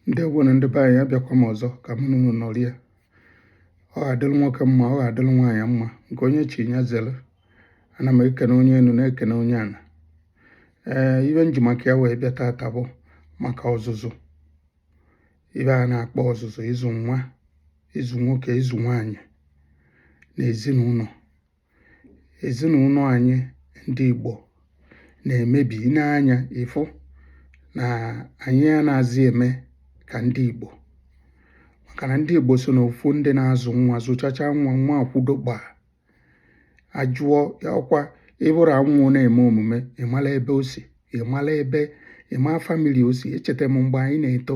ndewo nụ ndị be anyị abịakwa m ọzọ ka m na unu nọrịa ọ ga-adịrị nwoke mma ọ ga-adịrị nwaanyị mma nke onye chi ya zere ana m ekene onye enu na-ekene onye ana ee ibe m ji maka ya wee bịa tata bụ maka ọzụzụ ibe a na-akpọ ọzụzụ ịzụ nwa ịzụ nwoke ịzụ nwaanyị na ezinụnọ ezinụnọ anyị ndị Igbo na-emebi i nee anya ị fụ na anyị anaghịzị eme ka ndị Igbo maka na ndị Igbo so n'ofu ndị na-azụ nwa zụchacha nwa nwa akwụdo gbaa ajụọ ya ọkwa ịbụrụ anwụ na-eme omume ịmala ebe o si ịmala ebe ịma family o si echeta m mgbe anyị na-eto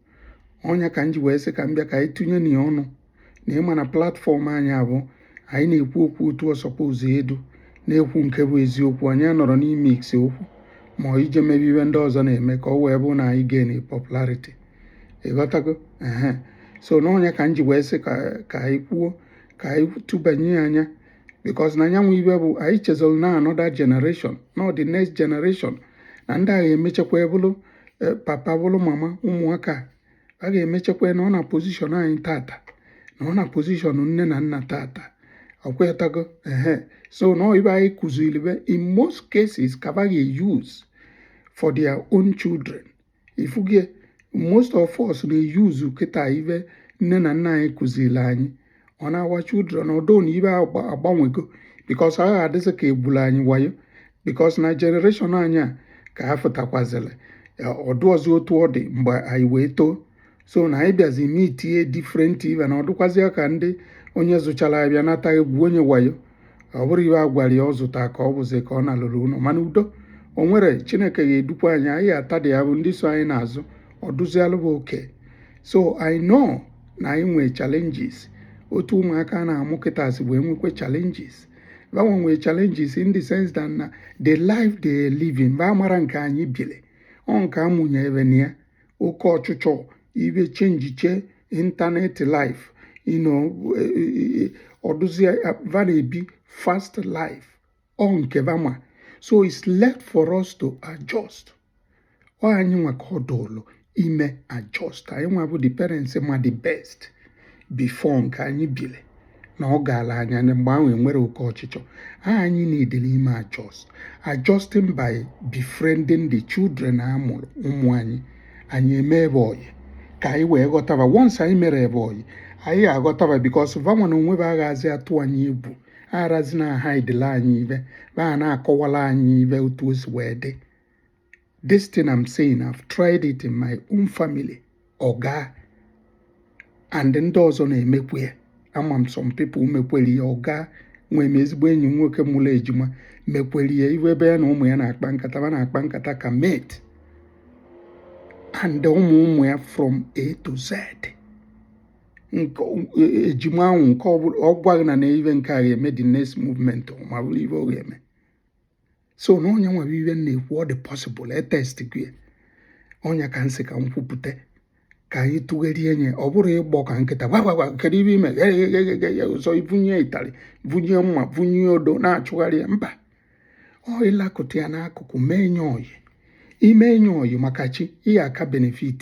ọ nya ka m ji wee sị ka m bịa ka anyị tụnye na ya ọnụ na ịma na platform anyị a bụ anyị na-ekwu okwu otu ọsọkwa ụzọ edu na-ekwu nke bụ eziokwu anyị anọrọ n'ime ise okwu ma ọ ije mebe ibe ndị ọzọ na-eme ka ọ wee bụ na anyị gain popularity ịghọtago ehe so na ọ nya ka m ji wee sị ka anyị kwuo ka anyị tụbanye ya anya because na anyị nwa ibe bụ anyị chezọrọ na another generation na ọ the next generation na ndị a ga-emechakwa bụrụ eh, papa bụrụ mama ụmụaka ba ga-emechakwa nọ na position anyị tata nọ na position nne na nna tata ọkwetago ehe so na ibe anyị kụziri be in most cases ka ba ga-use for their own children ifugie most of us na-use kịta ibe nne na nna anyị kụziri anyị on our children ọ dụ na ibe agbanwego because ọ ga-adịsị ka egwula anyị wayo because na generation anyị a ka ha fụtakwazịrị ọ dụrọzi otu ọ dị mgbe anyị wee too so na anyị bịazi meetie different ibe na ọ dụkwazịa ka ndị onye zụchara avịa nata e gwuo nya wayo ọ bụrọ ibe a gwara ya ọ zụta ka ọ bụzi ka ọ nalulu ụnọ mana udo o nwere chineke ga-edukwa anyị anyị ata dị ya bụ ndị so anyị n'azụ ọ dụzialụ ba okay so i know na anyị nwee challenges otu ụmụaka na-amụ kịta si wee nwekwe challenges ba nwa nwee challenges in the sense that na the life they living ba mara nke anyị bile ọ nke a mụnye be na ya oke ọchụchọ ibe chenjiche internet life you know e, e, e, ọ dụzi va na-ebi fast life ọ nke va ma so it's left for us to adjust ọ anyị nwa ka ọ dụlụ ime adjust anyị nwa bụ the parents ma the best before nke anyị bile na ọ gaala anya na mgbe ahụ enwere oke ọchịchọ anyị needilị ime adjust adjusting by befriending the children a mụrụ ụmụ anyị anyị emee be ọyị ka anyị wee ghọta ba once anyị mere be ọyị anyị aghọta ba because va nwa na onwe va agazị atụ anyị egwu arazi na-ahidele anyị ibe ba na-akọwala anyị ibe otu o si wee dị This thing I'm saying, I've tried it in my own family. ọ gaa and ndị ọzọ na-emekwu ya ama m some people mekwere ya ọ gaa nwee m ezigbo enyi m nwoke mụrụ ejima mekwere ya iwe ebe ya na ụmụ ya na-akpa nkata ma na-akpa nkata ka mate and ụmụ ụmụ ya from A to Z ejima ahụ nke ọ gwaghị na na ive nke a ga-eme the next movement ma bụrụ ive ọ ga-eme so na ọ nya nwa bụ ive m na-ekwu ọ dị possible e testigo ye ọ nya ka m sị ka m kwupụta ka anyị tụgherie nye ọ bụrọ ịgbọ ka nkịta gwagwagwa kedu ive i me ọzọ i bunie ịtarị bunie mma bunie odo na-achụgharị ya mba ọ ịlakụta ya n'akụkụ mee nye oyi i mee nye oyi maka chi ị ya-aka benefit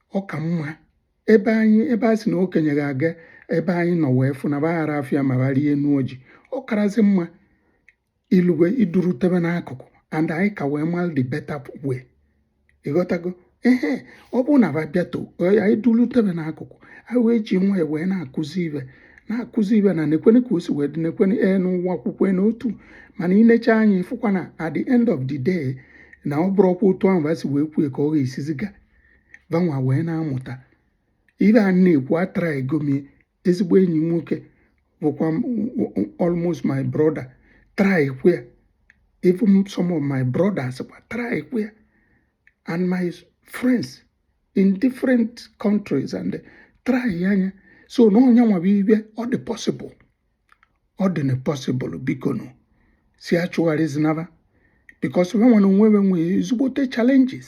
ọ ka mma ebe anyị ebe a sị na okenye ga-aga ebe anyị nọ wee fụ na va agara afụ ya ma va rịe enu ọjị ọ karazi mma ilugwe i durute ve n'akụkụ and anyị ka wee mara the better way ịghọtago ehe ọ bụrụ na va bịato anyị durute ve n'akụkụ anyị wee ji nwayọ wee na-akụzi ive na-akụzi ive na nekwene ka o si wee dị nekwene ee n'ụwa akwụkwọ n'otu mana i necha anya ị fụkwa na at the end of the day na ọ bụrọkwa otu ahụ va si wee kwue ka ọ ga-esizi ga va nwa wee na-amụta ive a na-ekwu atrygo m ye ezigbo enyi nwoke bụkwa almost my brother trykwa ya even some of my brothers kwa trykwa ya and my friends in different countries and try nya so na ọ nya nwa bụ ive ọ dị possible ọ dị nọọ possible bikonu si achụgharịzina va because va nwa na onwe ve nwee ezigbote challenges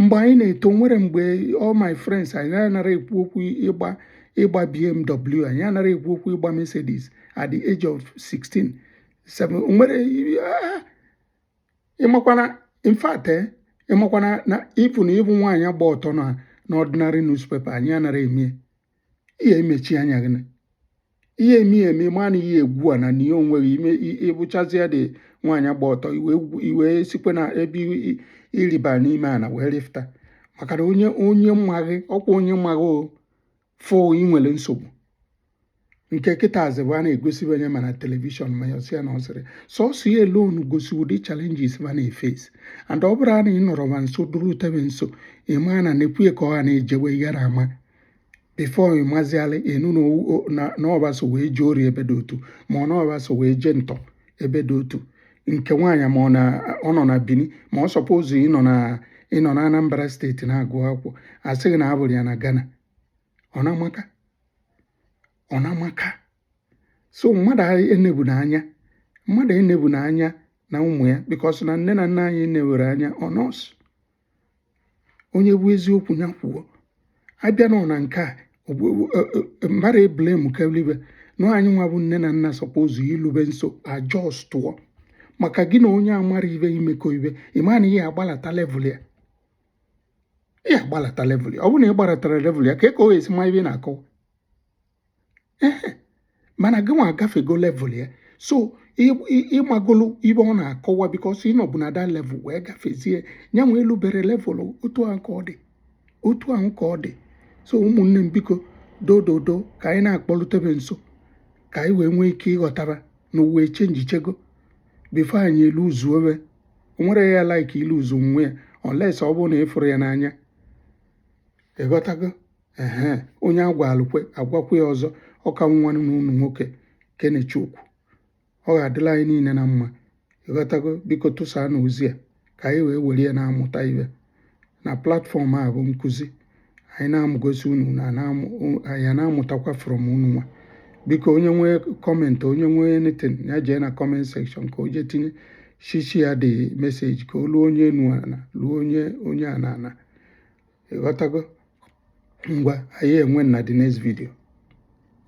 mgbe anyị na-eto o nwere mgbe all my friends anyị anara ekwu okwu ịgba ịgba BMW anyị anara ekwu okwu ịgba Mercedes at the age of 16 7 nwere ah, ịmakwana in fact eh, ịmakwana na ịfụ na ịfụ nwaanyị gba ọtọ na ordinary newspaper anyị anara emie ị ya-emechi anya gị na ihe emi emi ma na ihe egwu a na ihe onwe gị ime ị fụchazie ụdị nwaanyị gba ọtọ i wee sịkwa na ebe ịrịba n'ime ana wee rịfụta maka na onye onye ma gị ọ kwa onye ma gị o fụ ị nwere nsogbu nke kịta azịbụ a na-egosi ve anya ma na telivishọn ma ya na ọ sịrị sọsọ ya alone gosi ụdị challenges va na-eface and ọ bụrụ na ị nọrọ va nso durute ve nso ịma na nekwu ya ka ọ ha na-ejewe ị gara ama before ịmazialị ịnụ na ọba so wee jee ori ebe dị otu ma ọ na ọba so wee jee ntọ ebe dị otu nke nwaanyị ma ọ nọ na Bini ma ọ suppose ịnọ na Anambra State na-agụ akwụkwọ a sị gị na a fụrụ ya na Ghana ọ na-amaka ọ na-amaka so mmadụ enebu na anya mmadụ enebu na anya na ụmụ ya because na nne na nna anyị enewere anya ọ nọọsụ onye bụ eziokwu ya kwuo abịa nọ na nke a e, e, mmadụ e-blame kelibe na anyị nwa bụ nne na nna suppose ilube nso adjustuo maka gị na onye amarọ ife imekọ ife ị ma na ị ya-agbalata level ya ị ya-agbalata level ya ọ bụrụ na ị gbalatara level ya ka e ka ọ ya-esi ma ife ị na-akọwa mana gị nwa agafego level ya so ị magolu ife ọ na-akọwa because ị nọbu na that level wee gafezie ya nwa elubere level otu ahụ ka ọ dị otu ahụ ka ọ dị so ụmụnne m biko dododo ka anyị na-akpọlutebe nso ka anyị wee nwee ike ịghọta na ụwa echangechago before anyị eluzuo we nwere ya like iluzu nwa ya unless ọ bụrụ na ị fụrọ ya n'anya ịghọtago ehe onye agwalụ kwe agwakwa ya ọzọ ọ ka bụ nwanne unu nwoke Kenechukwu ọ ga-adịlị anyị niile na mma ịghọtago biko tụsaanụ ozi a ka anyị wee were ya na-amụta ife na platform a bụ nkụzi anyị na-amụgosi unu na anyị na-amụtakwa from unu nwa biko onye nwee comment onye nwee anything ya jee na comment section ka o jee tinye share share the message ka o luo onye enu ana luo onye onye ana ana ịghọtago ngwa anyị enwe na the next video